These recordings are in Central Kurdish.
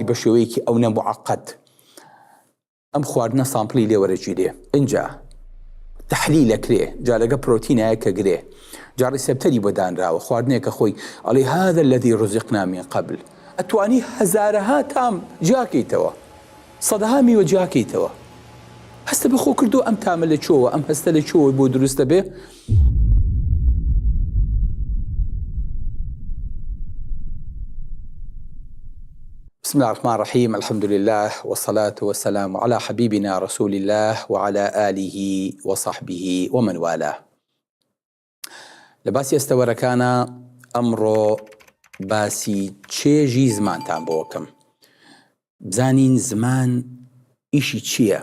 بە شێوەیەکی ئەونە موعەقەد ئەم خواردنە سامپڵی لێ وەرەگیرێ ئینجا تحلیل ئەکرێ جا لەگە پرۆتینایە کە گرێ جا ڕیسپتەری بۆ دانراوە خواردنێکە خۆی ئەڵێ هذا الذي رزقنا من قبل ئەتوانی هەزارەها تام جیاکەیتەوە سەدەها میوە جیاکەیتەوە هەستە بەخۆ کردو ئەم تامە لە چۆوە ئەم هەستە لە چۆوە بۆ دروستە بێ بسم اللە الرحمن الرحیم الحمد للە والصلاة والسلام علی حبیبنا رسول اللە وعلی آله وصحبه ومن والاه لە باسی ئەستەوەرەکانا ئەمڕۆ باسی چێژی زمانتان بۆکەم بزانین زمان ئیشی چییە؟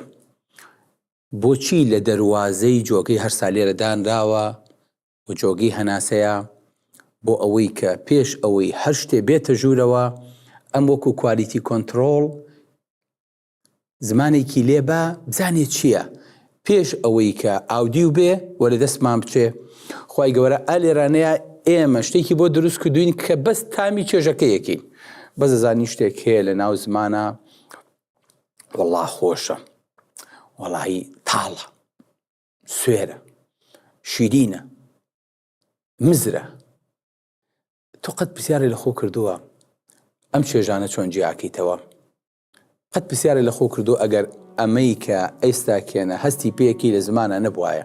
بۆچی لە دەروازەی جۆگەی هەرسا لێرە دانراوە و جۆگەی هەناسەیە؟ بۆ ئەوەی کە پێش ئەوەی هەر شتێ بێتە ژوورەوە ئەم وەکو کوالیتی کۆنتڕۆڵ زمانێکی لێ با بزانێ چییە پێش ئەوەی کە ئاودیو بێ و لە دەستمان بچێ خی گەورە ئا لێرانەیە ئێمە شتێکی بۆ دروست کردوین کە بەس تامی چێژەکەیەکین بەزەزانی شتێک هەیە لە ناو زمانە وەڵا خۆشە وەڵایی تاڵە سوێرە شیرینە مزرە تۆ قەت پرسیارە لە خۆ کردووە ئەم چێژانە چۆن جیاکەیتەوە قەت پرسیارە لە خۆ کردو ئەگەر ئەمەی کە ئێستا کێنە هەستی پێکی لە زمانە نەبواە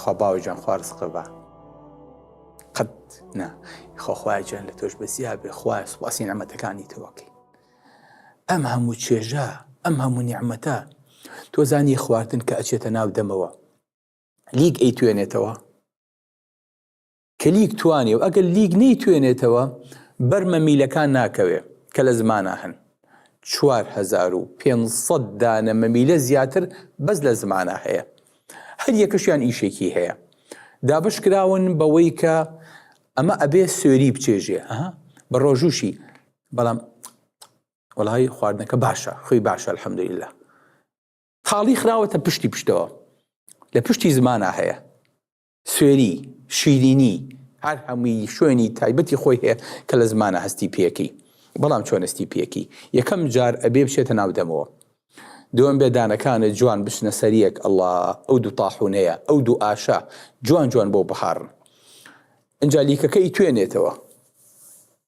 خوا باوە جان خوا ڕسقە بە قەت نا خۆخوای جان لە تۆش بەسیا بێ خوای سوپاسی نەمەتەکانی تۆکەی ئەم هەموو چێژە ئەم هەموو نیعممەتە تۆ زانی خواردن کە ئەچێتە ناو دەمەوە لیک ئەی توێنێتەوە کە لیک توانێ و ئەگەر لیک نەیتوێنێتەوە بەر مەمیلەکان ناکەوێ کە لە زمانا هەن چوار هەزار و پێنج سەد دانە مەمیلە زیاتر بەس لە زمانا هەیە هەر یەکەشیان ئیشێکی هەیە دابش کراون بەوەی کە ئەمە ئەبێ سوێری بچێژێ ئەها بە ڕۆژوشی بەڵام وەڵی خواردنەکە باشە خۆی باشە الحەمدللا تاڵی خراوەتە پشتی پشتەوە لە پشتی زمانە هەیە سوێری، شیرینی، هەر هەمووی شوێنی تایبەتی خۆی هەیە کە لە زمانە هەستی پێکەی بەڵام چۆن هەستی پێکەی یەکەم جار ئەبێ بچێتە ناو دەمەوە دووەم بێ دانەکانت جوان بچنە سەریەک ئەڵا ئەو دوو تاحونەیە ئەو دوو ئاشە جوان جوان بۆ بهاڕن ئەجا لیکەکەی توێنێتەوە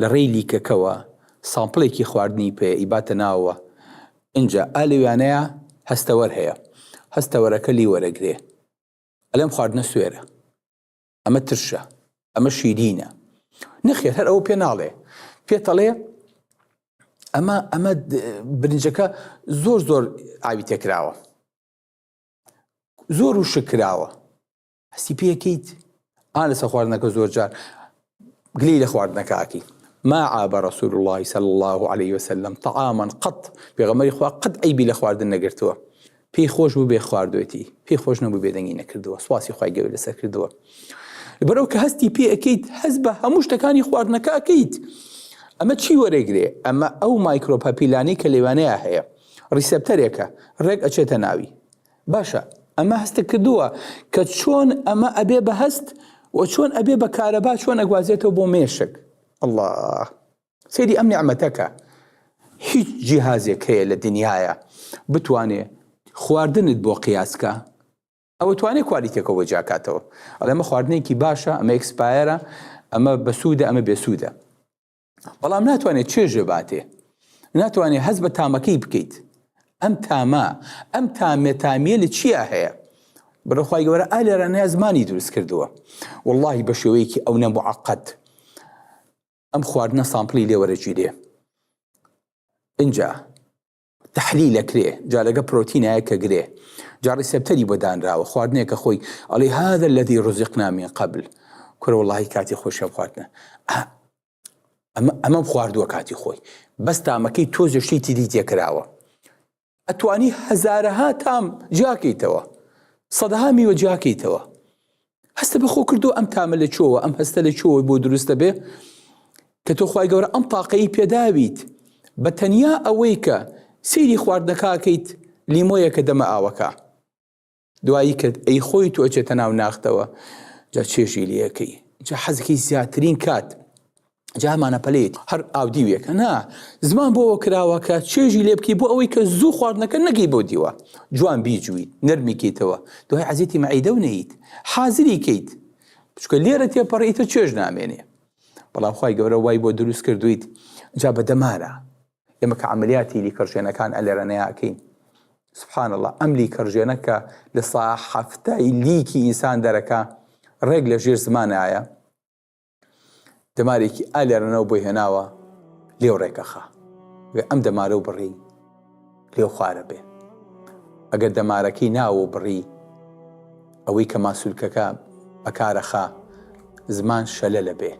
لە ڕێی لیکەکەوە سامپڵێکی خواردنی پێ ئیباتە ناوەوە ئنجا ئا لەویانەیا هەستەوەر هەیە هەستەوەرەکە لی وەرەگرێ ئەلێم خواردنە سوێرە ئەمە ترشە ئەمە شیرینە نەخێر هەر ئەوە پێ ناڵێ پێتەڵێ ئەمە ئەمە برنجەکە زۆر زۆر ئاوی تێکراوە زۆر و شکراوە هەستی پێکەیت ئا لەسە خواردنەکە زۆر جار گلی لە خواردنەکەکی ما عاب رسول الله صلى الله عليه وسلم طعاما قط پێغەمەری خوا قەت ئەیبی لە خواردن نەگرتووە پێی خۆش بوو بێ خواردوێتی پێی خۆش نەبوو بێدەنگی نەکردووە سواسی خی گەور لەسەر کردووە بەرەو کە هەستی پێ ئەەکەیت هەز بە هەموو شتەکانی خواردنەکە ئەەکەیت ئەمە چی وەرەگرێ ئەمە ئەو مایکرۆپەپیلانی کە لێوانەیە هەیە ڕیسپتەرێکە ڕێک ئەچێتە ناوی باشە ئەمە هەستە کردووە کە چۆن ئەمە ئەبێ بە هەست و چۆن ئەبێ بە کارەبا چۆن ئەگوازێتەوە بۆ مێشک الله سری ئەم نیعممەتەکە هیچ جیهازێک هەیە لە دنیاە بتوانێ خواردنت بۆ قیاسکە ئەوە توانێ کوالیتێکەوە جاکاتەوە ئەڵێمە خواردنێکی باشە ئەمە ئەکسپایرە ئەمە بەسوودە ئەمە بێسوودە بەڵام ناتوانێت چێژێ باتێ ناتوانێت هەز بە تامەکەی بکەیت ئەم تامە ئەم تامێتامیە لە چیا هەیە بەخوای گەورە ئالێرە نیازمانی دروست کردووە واللهی بە شێوەیەکی ئەو نەم عقد ئەم خواردنە سامپلی لێوەرەگیرێ اینجا تەحلیل ئەکرێ جا لەگە پرۆتینایە کە گرێ جا ڕیسێپتەری بۆ دانراوە خواردنێکە خۆی ئەڵێ هذا الذي رزقنا من قبل کورە وڵی کاتی خۆشیان خواردنە ئەمە ئەمەم خواردووە کاتی خۆی بەس تامەکەی تۆزە شتی تری تێکراوە ئەتوانی هەزارەها تام جیاکەیتەوە سەدەها میوە جیاکەیتەوە هەستە بە خۆ کردو ئەم تامە لە چۆوە ئەم هەستە لە چۆوە بۆ دروستە بێ کە تۆ خی گەورە ئەم تاقەی پێداویت بە تەنیا ئەوەی کە سیری خواردنەکەکەیت لیمۆیە کە دەمە ئاوەکە دوایی کرد ئەی خۆی تۆ ئەچێتە ناو ناختەوە جا چێژی لەکەی جا حەزەکەی زیاترین کات جا هەمانە پەلەیەتی هەر ئاودیوێکە نا زمان بۆەوە کراوە کە چێژی لێ بکەی بۆ ئەوەی کە زوو خواردنەکە نەگەی بۆ دیوە جوان بیجووی نەرمیکەیتەوە دوای عزیێتی مەعیدە و نیت حازری کەیت بچکە لێرە تێپەڕیتە چێژ نامێنێ بەڵام خی گەورە وای بۆ دروست کردویت جا بە دەمارە ئێمە کە عملیاتی لیکڕژێنەکان ئەلێرەنەیەکەین سبحان الله ئەم لیکڕژێنە کە لە سا حفتای لیکی ئینسان دەرەکە ڕێک لە ژێر زمانایە دەمارێکی ئا لێرەنەوە بۆی هێناوە لێو ڕێکەخا وێ ئەم دەمارە و بڕی لێو خوارە بێ ئەگەر دەمارەکەی ناوە بڕی ئەوەی کە ماسوولکەکە بەکارەخا زمان شەلە لە بێ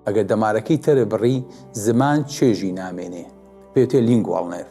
ئەگەر دەمارەکەی تەرە بڕی زمان چێژی نامێنێ پێتێ لینگواڵنێف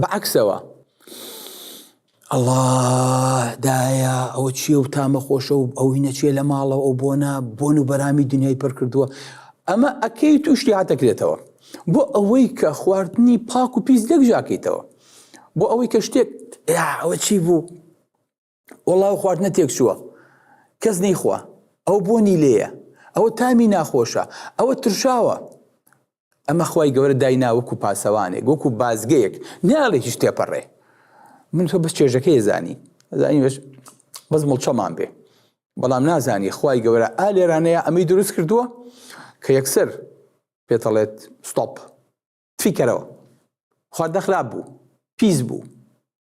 بەعکسەوە ئەڵا دایە ئەوە چیە و تامە خۆشە و ئەوی نەچێ لە ماڵەوە ئەو بۆنە بۆن و بەرامی دنیای پڕ کردووە ئەمە ئەکەی توشتی هاتەکرێتەوە بۆ ئەوەی کە خواردنی پاک و پیس لەک ژاکەیتەوە بۆ ئەوەی کە شتێک ئەوە چی بوو وەڵا ئەو خواردنە تێکچووە کەس نەیخوا ئەو بۆنی لێیە ئەوە تامی ناخۆشە ئەوە ترشاوە ئەمە خی گەورە داینا وەکو پاسەوانێک وەکو بازگەیەک ناڵێ هیچ تێپەڕێ من تۆ بەس چێژەکەی زانی زانی بەس بەس مڵچەمان بێ بەڵام نازانی خی گەورە ئا لێرانەیە ئەمەی دروست کردووە کە یەکسەر پێتەڵێت ستۆپ فیکەرەوە خواردە خراپ بوو پیس بوو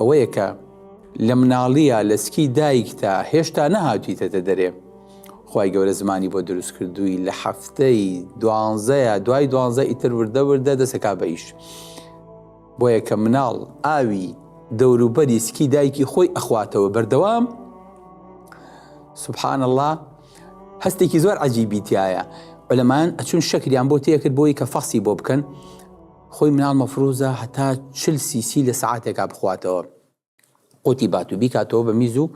ئەوەیە کە لە مناڵیە لە سکی دایکتا هێشتا نەهاتیتەتە دەرێ خی گەورە زمانی بۆ دروست کردووی لە هەفتەی دوانزەیە دوای دوانزە ئیتر وردە وردە دەسەکا بە ئیش بۆ یەکە مناڵ ئاوی دەوروبەری سکی دایکی خۆی ئەخواتەوە بەردەوام سبحان الله هەستێکی زۆر عجیبیتایە بەلەمان ئەچون شەکریان بۆ تێکرد بۆی کە فەخسی بۆ بکەن خۆی مناڵ مەفروزە هەتا چل سی سی لە سەعاتێکا بخواتەوە قوتی باتو بیکاتەوە بە میز و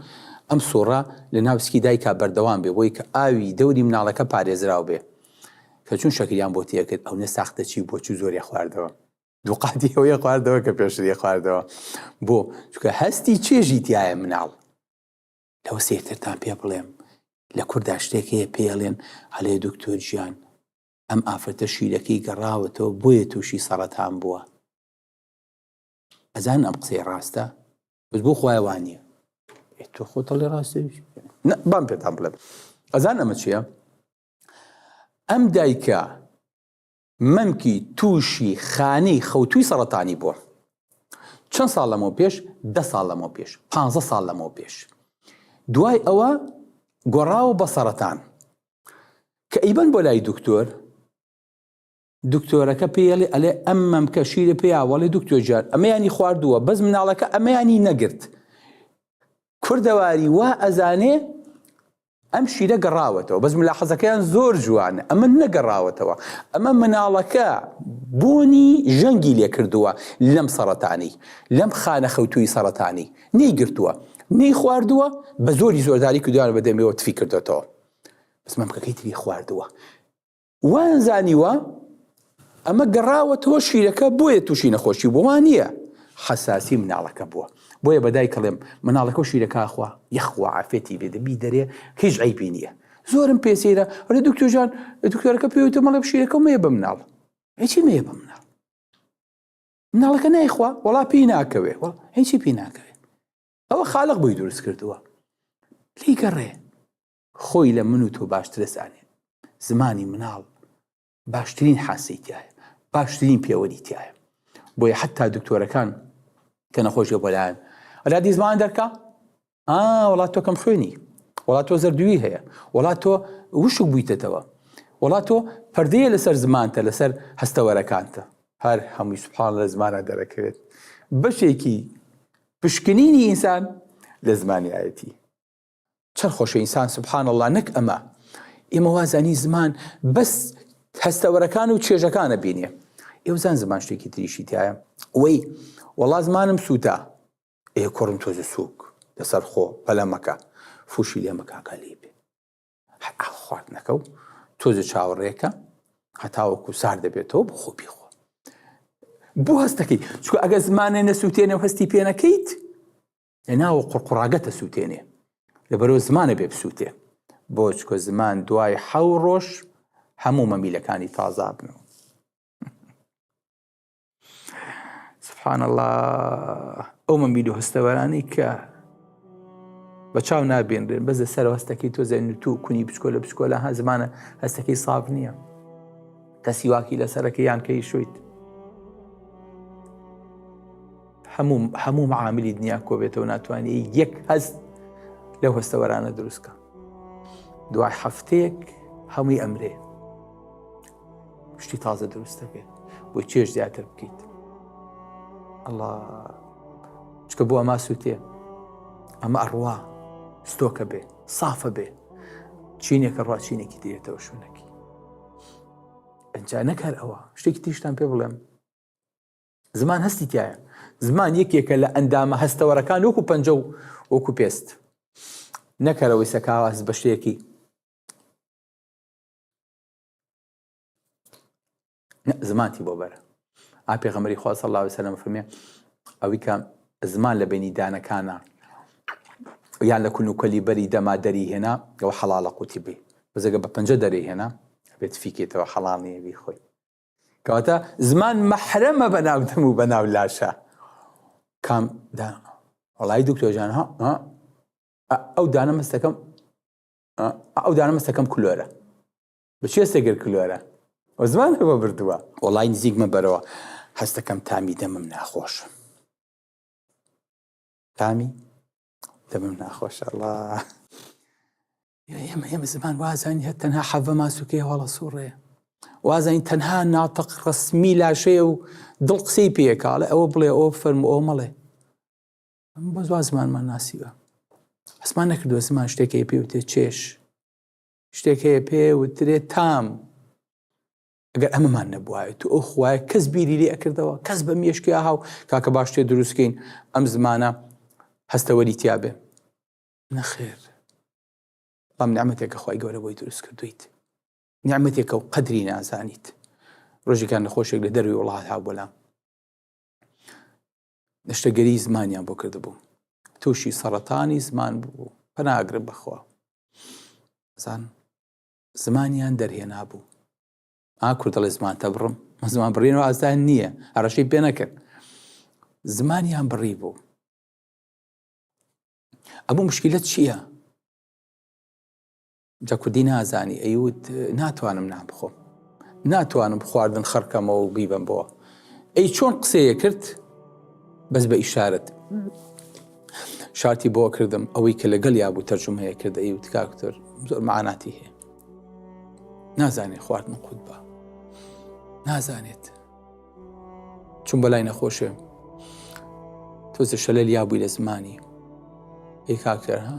ئەم سوڕە لە ناو سکی دایکا بەردەوام بێ بۆی کە ئاوی دەوری مناڵەکە پارێزراو بێ کە چون شەکریان بۆ تێکرد ئەونە ساختە چی بۆ چو زۆری خواردەوە دوقاتی ئەوەیە خواردەوە کە پێشری خواردەوە بۆ چکە هەستی چێژی تایە مناڵ لەوە سێرترتان پێ بڵێم لە کوردا شتێک هەیە پێڵێن هەلێ دکتۆر گیان ئەم ئافرەتە شیرەکەی گەڕاوەتەوە بۆیە تووشی سەڕەتان بووە ئەزان ئەم قسەی ڕاستە بس بۆ خخوای وانە تۆ خۆتەڵی ڕاستە بام پێتان بڵێت ئەزان ئەمە چیە ئەم دایکە مەمکی تووشی خانی خەوتوی سەڵەتانی بووە چەند ساڵ لەمەوە پێش ده ساڵ لەمەوە پێش پ ساڵ لەمەوە پێش دوای ئەوە گۆڕاوە بە سەرەتان کە ئیبەن بۆ لای دکتۆر دکتۆرەکە پێڵێ ئەلێ ئەم مەمکە شیرە پێیاوەڵی دکتۆر جار ئەمەیانی خواردووە بەس مناڵەکە ئەمەیانی نەگرت کوردەواری وا ئەزانێ ئەم شیرە گەڕاوەتەوە بەس ملا حەزەکەیان زۆر جوانە ئەمە نەگەڕاوەتەوە ئەمە مناڵەکە بۆنی ژەنگی لێ کردووە لەم سەرەتانی لەم خانە خەوتووی سەرەتانی نەیگرتووە نەی خواردووە بە زۆری زۆرداری کردوان بە دەمێەوە تفی کردێتەوە سمەمکەکەی تری خواردووە وایان زانیوە ئەمە گەڕاوە تۆ شیرەکە بۆیە تووشی نەخۆشی بۆوان نییە حەساسی مناڵەکە بووە بۆیە بەدای کەڵێم مناڵەکە و شیرەکەخوا یخوا عافێتی بێ دەبی دەرێ هیچ ئەیبی نییە زۆرم پێسیرە ڕێ دکتۆژان دکتۆرەکە پێوتە مەڵێ شیرەکە مێ بە مناڵ هیچی مێ بە مناڵ مناڵەکە نایخوا وڵا پێی ناکەوێ هیچی پێی ناکەوێت ئەوە خالق بۆی دروست کردووە لێی گەڕێ خۆی لە من و تۆ باشترە زانێ زمانی مناڵ باشترین حاسی تایە باشترین پێوەری تایە بۆیە حتا دکتۆرەکان کە نەخۆشیە بۆلایەن ئەلا دیزمان دەرکە وڵات تۆکەم خوێنی وڵات تۆ زەردووی هەیە وڵات تۆ وشک بوویتەتەوە وڵات تۆ پردەیە لەسەر زمانتە لەسەر هەستەوەرەکانتە هەر هەمووی سوپان لە زمانە دەرەکەوێت بەشێکی پشکنینی ئینسان لە زمانی ئایەتی. چەن خۆشە ئینسان سبحان اللە نەک ئەمە ئێمە وازانی زمان بەس هەستەوەرەکان و چێژەکانە بینێ ئێوزان زمان شتێکی تریشی تایە وەی وەڵا زمانم سووتا ئێ کوڕم تۆزە سووک لەسەر خۆ پەلەمەکە فوشی لێمەکاکە لێ بێ خواردنەکە و تۆزە چاوەڕێکە هەتاوەکو سار دەبێتەوە بۆ خۆ پێخۆ بۆ هەستەکەی چکو ئەگە زمانێ نەسووتێنە و هەستی پێ نەکەیت لە ناوە قڕقڕاگەتە سووتێنێ لە بەرەو زمانە بێ بسووتێ بۆ چکۆ زمان دوای حەو ڕۆژ هەموو مەمیلەکانی تازابنەوە سبحان الله ئەو من بیدو هەستەوەرانی کە بە چاو نابێنرێن بەس لە سەر هەستەکەی تۆ زەین تو کونی بچکۆ لە بچکۆ لە هە زمانە هەستەکەی ساف نییە کە سیواکی لە سەرەکە یان کەی شویت هەموو هەموو معاملی دنیا کۆبێتەوە ناتوانانی یەک هەست لەو هەستەوەرانە دروستکە دوای هەفتەیەک هەمووی ئەمرێ شتی تازە دروست دەبێت بۆی چێش زیاتر بکەیت ئەڵا چکە بۆ ئەما سووتێ ئەمە ئەڕوا ستۆکە بێ سافە بێ چینێکە ڕاچینێکی دێتەوە شوونەکی ئەجا نەکار ئەوە شتێکی تیشتان پێ بڵێم زمان هەستی تایە زمان یەکێکە لە ئەندامە هەستەوەرەکان وەکو پەنجە و وەکو پێست نەکەرەوەی سەکاواز بە شتێکی زمانتی بۆ بەرە ئاپێ غەمەری خوا سەڵ لاوی سەلم فەرمێ ئەوی کە زمان لە بینی دانەکانە یان لە کون و کەلی بەری دەما دەری هێنا ئەوە حەڵالە قوتی بی بەزەگە بە پەنجە دەری هێنا بێت فیکێتەوە حەڵال نیە بی خۆی کەواتە زمان مەحرەمە بە ناودەم و بە ناو لاشە کام دا وڵی دکتۆژان ها ئەو دانە مەستەکەم ئەو دانە مەسەکەم کلۆرە بچێ سێگر کلۆرە و زمان بە بردووە وڵی نزیکمە بەرەوە هەستەکەم تامی دەمم ناخۆش تامی دەمم ناخۆش ئەڵا ئێمە ئێمە زمان وازانی هە تەنها حەڤە ماسوکەی هەڵە سوڕێ وازانی تەنها ناتەق ڕسمی لاشەیە و دڵ قسەی پێکاڵێ ئەوە بڵێ ئەو فەرم ئەو مەڵێ بۆ زمان زمانمان ناسیوە حسمان نەکردووە زمان شتێکی پێ وتێ چێش شتێک هەیە پێ وترێ تام ئەگەر ئەمەمان نەبواە تو ئەو خوایە کەس بیری لێ ئەکردەوە کەس بە مێشکی ئاهاو کاکە باش تێ دروستکەین ئەم زمانە هەستەوەری تیاابێ نەخێر بەڵام نعممەتێکە خی گەورە بۆی دروست کردویت نعممەتێکە و قەدری نازانیت ڕۆژێکان نەخۆشێک لە دەروی وڵات ها بۆلام نەشتەگەری زمانیان بۆ کردبوو تووشی سەڕەتانی زمان بوو پەناگرم بەخوا زان زمانیان دەرهێنا بوو ئاکو دەڵێ زمانتە بڕم زمان بڕین و ئازدان نییە ئەڕەشی پێ نەکرد زمانیان بڕی بوو ئەمە مشکلت چییە؟ جا کوردی نازانی ئەیوت ناتوانم نان بخۆم ناتوانم خواردن خڕکەمەوە و بیبم بۆ ئەی چۆن قسەیە کرد بەس بە ئیشارەت شارتی بۆ کردم ئەوەی کە لەگەڵ یا بوو تەرجمەیە کرد ئەی وتکاکتۆر زۆر معناتی هەیە نازانێت خواردن قوت بە نازانێت چون بەلای نەخۆشێ تۆزە شەلەل یا بووی لە زمانی ئەی کاکتەر ها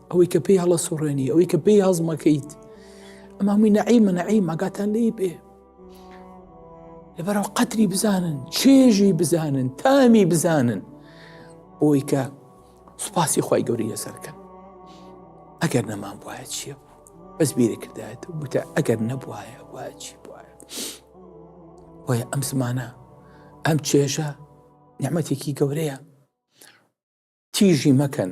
ئەوەی کە پێی هەڵە سوڕێنی ئەوەی کە پێی هەزمەکەیت ئەم هەمووی نەعیمە نەعیم ئاگاتان لێی بێ لەبەرەوە قەتری بزانن چێژی بزانن تامی بزانن بۆی کە سوپاسی خی گەوری لەسەرکەن ئەگەر نەمان وایە چیە بوو بەس بیرە کردایەت وتە ئەگەر نەبواە وایە چی بواە وایە ئەم زمانە ئەم چێژە نعممەتێکی گەورەیە تیژی مەکەن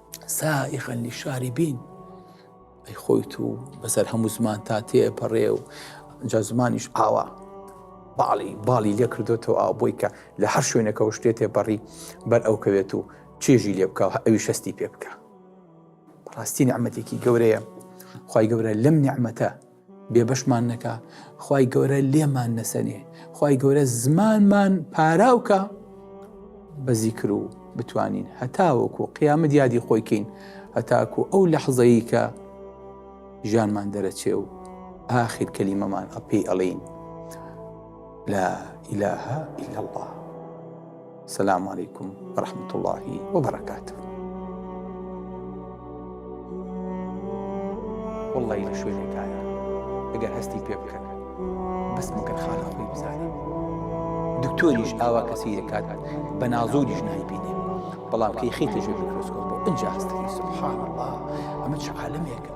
سائغا للشاربین ئەی خۆی تو بەسەر هەموو زمان تا تێپەڕێ و جا زمانیش ئاوا باڵی باڵی لێ کردوێتەوە ئاو بۆی کە لە هەر شوێنەکەەوە شتێ تێپەڕی بەر ئەو کەوێت و چێژی لێ بکە ئەوی شەستی پێ بکە ڕاستی نعممەتێکی گەورەیە خی گەورە لەم نعممەتە بێبەشمان نەکا خی گەورە لێمان نەسەنێ خی گەورە زمانمان پاراوکە بەزی کرد و بتوانین هەتاوەکو قیامە دیادی خۆیکەین هەتاکو ئەو لە حەزەیی کە ژیانمان دەرەچێ و ئاخیر کەلیمەمان ئەپی ئەڵین لا ئیلاها ئیلا الله. سلام علیکم ورحمة الله وبرکاته والله لە شوێنێکایە ئەگەر هەستی پێ بکەن بەس مەگەر خانە خۆی بزانین دکتۆریش ئاوا کەسی دەکات بە نازۆریش نای بینێ بەڵام کەی خیتە ژێ میکرۆسکۆپ بۆ ئەجا هەستەکەی سبحان الله ئەمە چ عالمێکە